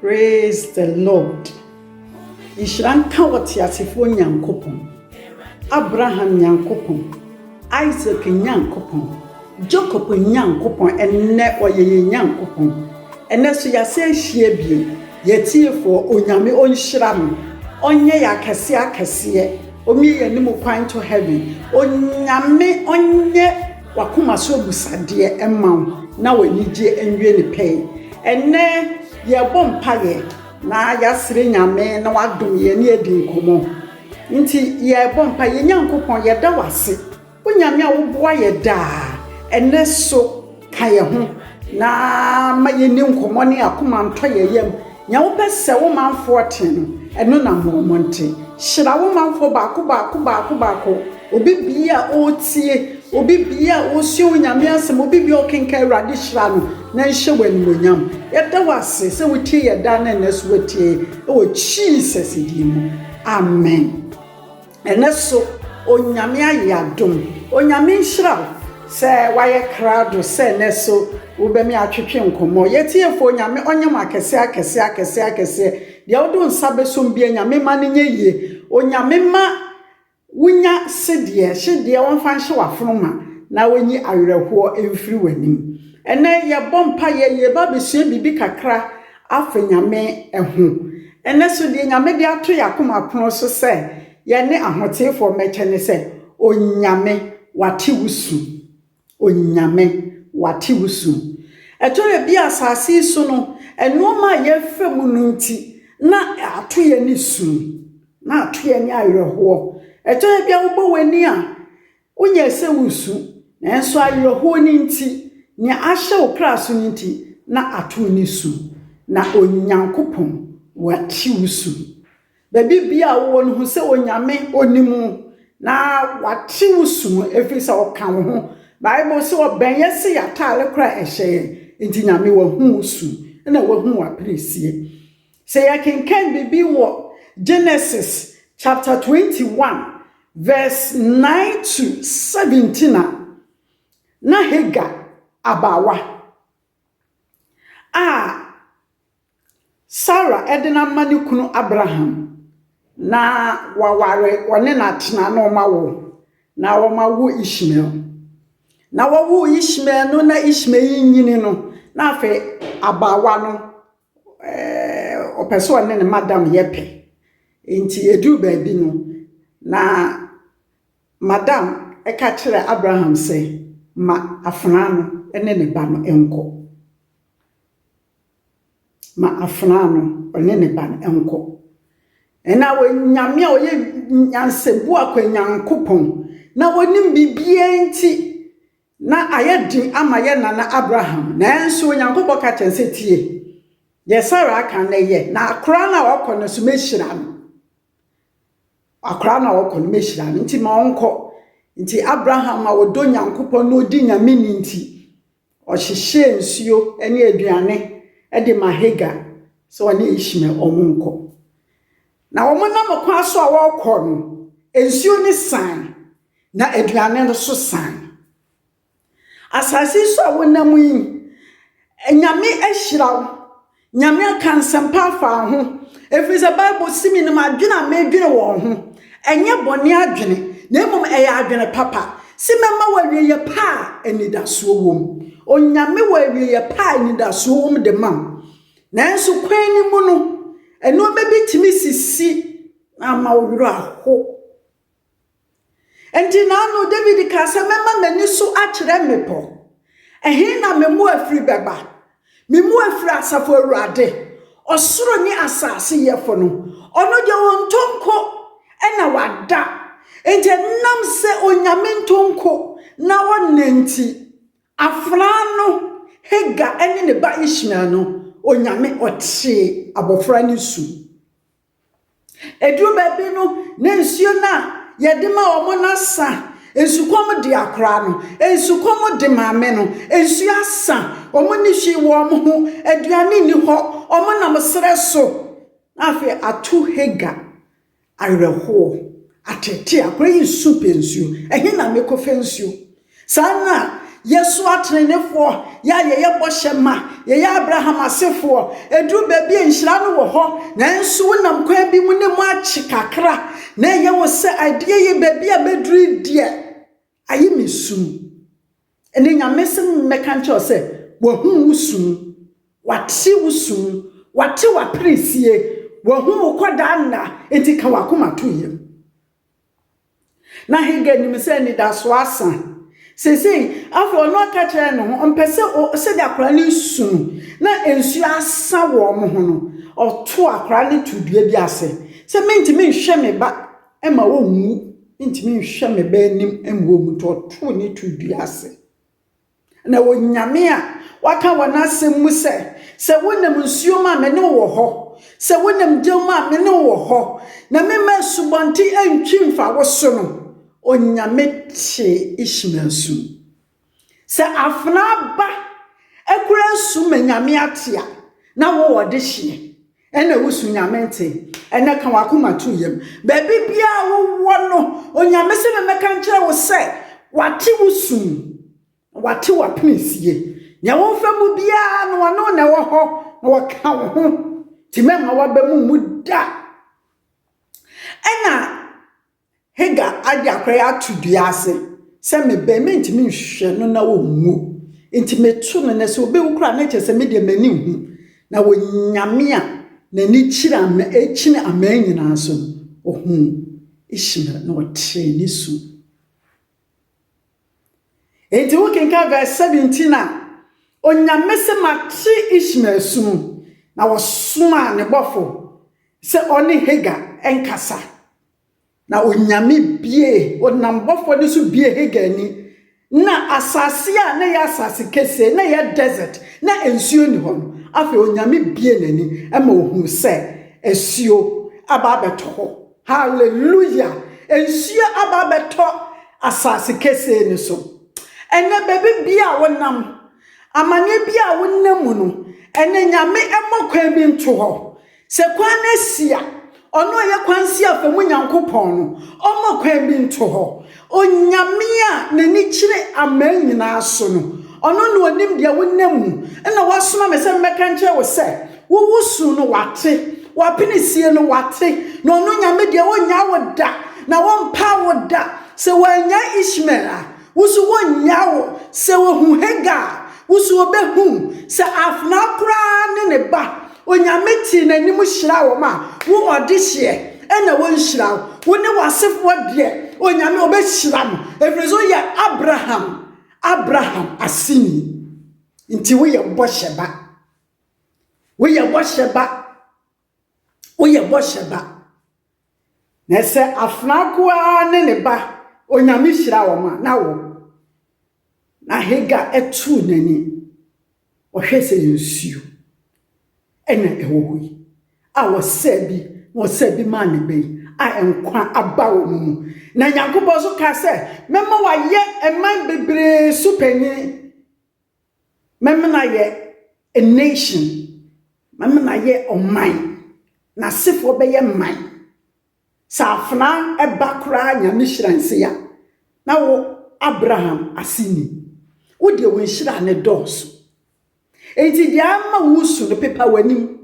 Praise the Lord. Nhyira nka wɔ teasefoɔ Nyankopɔn, Abraham Nyankopɔn, Isaac Nyankopɔn, Jacob Nyankopɔn, ɛnnɛ ɔyɛ yɛn Nyankopɔn. Ɛnnɛ so yɛasan ahyia bio. Yɛn atiefoɔ, Onyame ɔnhyira mo, ɔnyɛ yɛn akɛseɛ akɛseɛ, ɔmmie yɛn anim kwan to heaven, Onyame ɔnyɛ w'akoma so abusadeɛ mma wo, na w'anigyeɛ nwie ne pɛi. Ɛnnɛ yɛrebɔ mpaeɛ na yɛasrɛ Nyame na wadom yɛn ne yɛadi nkɔmmɔ. Nti yɛrebɔ mpaeɛ, yɛn Nyankopɔn yɛda wo ase, O Nyame a woboa yɛ daa, ɛnnɛ so ka yɛ ho, na ma yɛnni nkɔmmɔ ne akoma ntɔ yɛ yam. Nea wopɛ sɛ wo manfoɔ te no, ɛno na ma wɔn te. Hyira wo manfoɔ baako baako baako baako, obi biara a ɔretie, obi biara a ɔresua wo Nyame asɛm, obi biara a ɔrekenkan, Awurade hyira no na nhyɛ wo animuonyam. Yɛda wo ase sɛ wotie yɛ daa na ɛnnɛ so woatie wɔ Jesus din mu, amen. Ɛnɛ so Onyame ayɛ adom. Onyame nhyira wo sɛ wayɛ krado sɛ ɛnɛ so wobɛ me atwetwe nkɔmmɔ. Yɛ tiefoɔ Onyame ɔnyɛ mo akɛseɛ akɛseɛ akɛseɛ akɛseɛ. Deɛ wode wo nsa bɛsom biara Nyame mma no nyɛ yie. Onyame mma wo nya sedeɛ hyedeɛ ɔmfa nhye w'afono ma na ɔnyi awerɛhoɔ mfiri w'anim. Ɛnɛ yɛbɔ mpaeɛ yɛba abɛsua biribi kakra afa Nyame ho, ɛnnɛ so deɛ Nyame de ato yɛn akoma pono so sɛ yɛne ahoteefoɔ mmɛkyɛ ne sɛ, Onyame wate wo su. Onyame wate wo su. Ɛtɔ da bi a asase yi so no, nnoɔma a yɛfa mu no nti, na ato yɛn ani su. Na ato yɛn ani awerɛhoɔ. Ɛtɔ da bi a wobɔ w'ani a, Wonyɛɛ sɛ woresu, nanso awerɛhoɔ no nti, nea ahyɛ wo kra so no nti, na ato wo ne su. Na Onyankopɔn, Wate wo su. Baabi biara a wowɔ no, hu sɛ Onyame, Onim wo, na Wate wo su mu, ɛfiri sɛ Ɔka wo ho. Bible se, Ɔbɛn yɛ se yɛataale koraa a ɛhyɛ yɛn. Enti Nyame, Wahu wo su, ɛna Wahu w'aperesie. Sɛ yɛkenkan biribi wɔ Genesis chapter twenty one verse nine to seventeen a, na Hagar abaawa a Sarah de no ama ne kunu Abraham na waware ɔne no atena na wɔawo, na wɔawo Ishmael. Na wɔwoo Ishmael no na Ishmael yi nyini no, na afei abaawa no ɔpɛ sɛ ɔne ne madam yɛ pɛ. Enti ɛduu baabi no, na madam ka kyerɛɛ Abraham sɛ, Ma afenaa no ne ne ba no nkɔ. Ma afenaa no ne ne ba no nkɔ. Ɛnna Onyame a ɔyɛ nyansabua kwa Nyankopɔn, na ɔnim biribiara nti, Ná ayɛ den ama yɛn nana Abraham, nanso Onyankopɔn ka kyerɛɛ no sɛ, Tie deɛ Sara aka na yɛ, na akwadaa no a ɔkɔ no nso, mɛhyira no. Akwadaa no a ɔkɔ no, mɛhyira no, nti ma ɔnkɔ. Nti Abraham a ɔdɔ Onyankopɔn na ɔdi Nyame ni nti, ɔhyehyɛɛ nsuo ne aduane de ma Hagar sɛ ɔne Ishmael wɔn nkɔ. Na wɔnam kwan so a wɔrekɔ no, nsuo no sae, Na aduane no so san. Asase yi so a wonam yi, Nyame ahyira wo. Nyame aka nsɛmpa afa wo ho. Ɛfiri sɛ Bible se menim adwene a medwene wɔn ho. Ɛnyɛ bɔne adwene, na mmom ɛyɛ adwene papa. Se mɛma wo awieɛ pa a anidasoɔ wom. Onyame wɔ awieɛ pa a anidasoɔ wom de ma wo. Nanso kwan no mu no, nnoɔma bi tumi sisi na ama wo werɛ aho. Enti n'ano Dawid kaa sɛ, Mɛma m'ani so akyerɛ mmepɔ. Ɛhe na me mmoafiri bɛba? Me mmoafiri Asafo Awurade, ɔsoro ne asase Yɛfo no. Ɔno deɛ, ɔntɔ nko na wada. Enti ɛnam sɛ Onyame ntɔ nko na ɔnna nti, afenaa no, Hagar ne ne ba Ishmael no, Onyame ɔtee abɔfra no su. Ɛduru baabi no, na nsuo no a yɛde ma wɔn no asa. Nsukɔm de akwadaa no, nsukɔm de maame no. Nsuo asa, wɔnni hwee wɔ wɔn ho, aduane nni hɔ, wɔnam serɛ so. Na afei ato Hagar awerɛhoɔ, atete akwadaa yi resu pɛ nsuo, ɛhe na mɛkɔfa nsuo? Saa ara na yɛso atrenefoɔ, yɛ a yɛyɛ bɔhyɛ ma, yɛyɛ Abraham asefoɔ, ɛduru baabi a nhyira no wɔ hɔ, nanso wonam kwan bi mu ne mu akye kakra, na ɛyɛ wo sɛ adeɛ yi baabi a mɛduru yi deɛ, aye me sum. Ɛnɛ Nyame se mɛka nkyerɛ wo sɛ, Wahu wo sum, Wate wo sum, Wate w'aperesie, Wahu wo kɔdaa nna, enti ka w'akoma to yam. Na Hagar nim sɛ anidasoɔ asa. Seesei, afei ɔno aka kyerɛ ne ho, ɔmpɛ sɛ o, sɛdeɛ akwadaa no resu no, na nsuo asa wɔn ho no, ɔto akwadaa no to dua bi ase. Sɛ mentumi nhwɛ me ba ma ɔnwu, mentumi nhwɛ me ba anim ma ɔnwu nti, ɔtoo ne to dua ase. Na Onyame a waka wɔ n'asɛm mu sɛ, Sɛ wonam nsuo mu a, me ne wo wɔ hɔ, sɛ wonam gya mu a, me ne wo wɔ hɔ, na memma asubɔnten antwi mfa wo so no, Onyame tee Ishmael su. Sɛ afenaa ba kura su ma Nyame ate a, na wowɔ dehyeɛ. Ɛna wusu Nyame nte. Ɛna ka w'akoma to yam. Baabi biara a wowɔ no, Onyame se memmɛka nkyerɛ wo sɛ Wate wo su, na Wate w'apenesie. Nea womfa mu biara no, Ɔno na ɛwɔ hɔ, na Ɔka wo ho, nti mɛmma w'aba mu mmu da. Ɛna. Hagar ade akora yi ato dua ase sɛ me bɛn, mentumi nhwehwɛ no na ɔnwu, enti meto no, na sɛ ɔbɛwu koraa a, na kyerɛ sɛ me deɛ m'ani nhu, na Onyame a n'ani kyiri ama, kyini aman nyinaa so no, ɔhuu Ishmael na ɔtee ne su. Enti wokenkan verse 17 a, Onyame se mate Ishmael su no, na wɔsomaa ne bɔfo sɛ ɔne Hagar nkasa. Na Onyame bue, Ɔnam bɔfoɔ no so bue Hagar ani, na asase a na ɛyɛ asase kesee, na ɛyɛ desert, na nsuo nni hɔ no, afei Onyame bue n'ani ma ɔhunu sɛ asuo aba abɛtɔ hɔ. Hallelujah! Nsuo aba abɛtɔ asase kesee no so. Ɛnɛ baabi bia a wonam, amaneɛ bia a wonam mu no, ɛnɛ Nyame mmɔ kwan bi nto hɔ. Sɛ kwan no si a, Ɔno a ɔyɛ kwan si afa mu Nyankopɔn no, Ɔmma kwan bi nto hɔ. Onyame a N'ani kyerɛ aman nyinaa so no, Ɔno na Onim deɛ wonam mu, ɛna Wasoma me sɛ memmɛka nkyerɛ wo sɛ, wo wosu no Wate, w'apenesie no Wate, na Ɔno Nyame deɛ Onnyaa wo da, na Ɔmpaa wo da. Sɛ Wannyaa Ishmael a, wo so Onnyaa wo, sɛ Ohu Hagar a, wo so Obehu wo, sɛ afenaa koraa ne ne ba, Onyame tee n'anim hyiraa wɔn a wo ɔdehyeɛ ɛna wɔnhyira wo, wo ne w'asefoɔ deɛ Onyame ɔbɛhyira mo ɛfiri sɛ woyɛ Abraham, Abraham aseni, nti woyɛ bɔhyɛ ba, woyɛ bɔhyɛ ba, woyɛ bɔhyɛ ba. Na sɛ afenaa nkoaa ne ne ba Onyame hyira wɔn a, na wo. Na Hagar tuu n'ani, ɔhwɛɛ sɛ yɛ nsuo na ɛwɔ hɔ yi, a ɔsɛɛ bi, na ɔsɛɛ bi maa ne ba yi, a nkwa aba wɔn mu. Na Nyankopɔn nso kaa sɛ, Mɛma wayɛ mman bebree so panin. Mɛmena yɛ a nation, mɛmena yɛ ɔman, n'asefoɔ bɛyɛ man. Sɛ afenaa ba koraa Nyame hyira ne se a, na wo Abraham ase ni. Wo deɛ wo nhyira no dɔɔso. Enti deɛ ama wo resu no, pepa w'anim.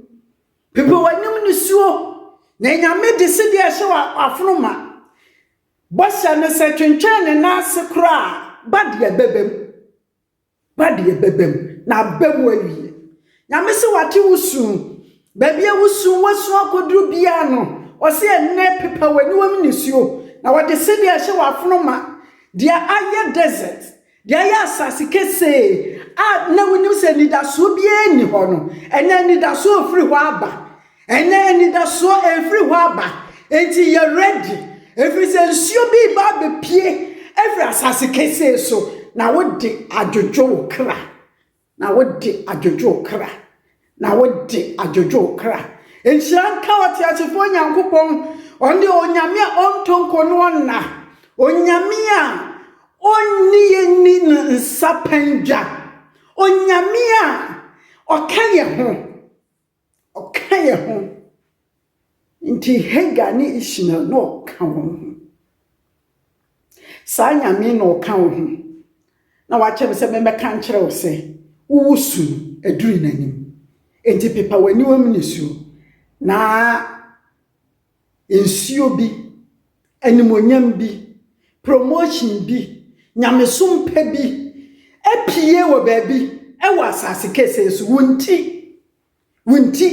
Pepa w'anim nisuo, na Nyame de sedeɛ a ɛhyɛ w'afono ma. Bɔhyɛ no sɛ twentwɛn ne nan ase koraa a, ba deɛ bɛba mu. Ba deɛ bɛbam na aba mu awie. Nyame se wate wo su. Baabi a wo su wasu akɔduru biara no, ɔse ɛnnɛ pepa w'aniwa mu nisuo, na ɔde sedeɛ ahyɛ w'afono ma. Deɛ ayɛ desert, deɛ ayɛ asase kesee a na wonim sɛ anidasoɔ biara nni hɔ no, ɛnnɛ anidasoɔ refiri hɔ aba. Ɛnɛ anidasoɔ ɛrefiri hɔ aba, enti yɛ ready, ɛfiri sɛ nsuo bi reba abɛpue afiri asase kesee so, na wode adwodwo wo kra, na wode adwodwo wo kra, na wode adwodwo wo kra. Nhyira nka ɔteasefoɔ Nyankopɔn, ɔno deɛ onyame a ɔntɔ nko no ɔnna, onyame a ɔnni yɛ nni no nsa pandwa, onyame a ɔka yɛ ho. Ɔka yɛn ho. Nti Hagar ne Ishmael na ɔka wɔn ho. Saa Nyame yi na ɔka wo ho, na wakyerɛ me sɛ memmɛka nkyerɛ wo sɛ, wowo su no aduru n'anim. Enti pepa w'aniwa mu nisuo, na Nsuo bi, animuonyam bi, promotion bi, nyamesom pɛ bi apue wɔ baabi wɔ asase kesee so. Wo nti, wo nti,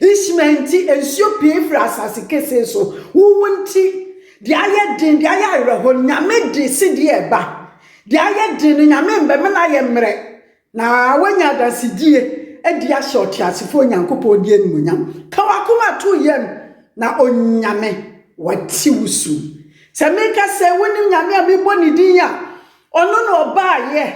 Ishmael nti, nsuo pue firi asase kesee so. Wo wo nti, deɛ ayɛ den, deɛ ayɛ awerɛhɔ, nyame de sedeɛ ɛba. Deɛ ayɛ den no, nyame mbɛmena yɛ mmerɛ. Na woanya adasedie adi ahyɛ ɔteasefoɔ Onyankopɔn din animuonyam. Ka w'akoma to yam na Onyame wate wo su. Sɛ meka sɛ wonim Nyame a mebɔ ne din a, ɔno na ɔbaeɛ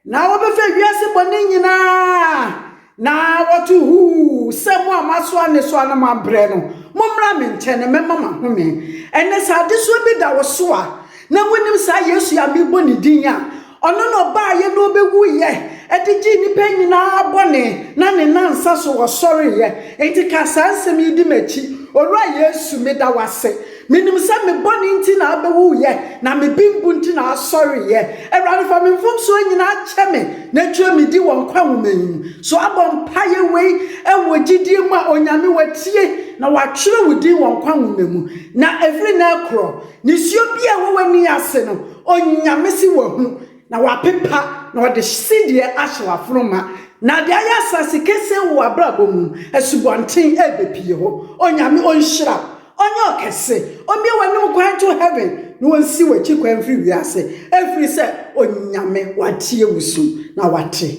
na wɔbɛfɛ wiase bɔne nyina ara na wɔto huu sɛ mo a moasoa ne so a na moabrɛ no, mommra me nkyɛn na mɛma mo ahome. Ɛnɛ sɛ adesoa bi da wo so a, Na wonim saa Yesu yi a mebɔ ne din a ɔno na ɔbaeɛ na ɔbɛwuiɛ de gyee nnipa nyinaa bɔne na ne nnansa so ɔsɔreeɛ. Enti ka saa nsɛm yi di m'akyi, 'Owura Yesu, meda wo ase. Menim sɛ me bɔne nti na wobɛwuiɛ na me bembu nti na wosɔreeɛ. Awurade, fa me mfomsoɔ nyinaa kyɛ me na twerɛ me din wɔ nkwa nwoma yi mu. So woabɔ mpaeɛ wei wɔ gyidie mu a Onyame watie na watwerɛ wo din wɔ nkwa nwoma mu? Na ɛfiri nnɛ rekorɔ, Nisuo bi a ɛwɔ w'ani ase no, Onyame se wahu, na wapepa, na ɔde sedeɛ ahyɛ w'afono ma. Na ade ayɛ asase kesee wɔ w'abrabɔ mu, asubɔnten ɛrebɛpie hɔ. Onyame ɔnhyira wo, ɔnyɛ ɔkɛse, ɔmmue w'anim kwan nto heaven, na ɔnsi w'akyi kwan mfiri wiase, ɛfiri sɛ Onyame watie wo su, na wate.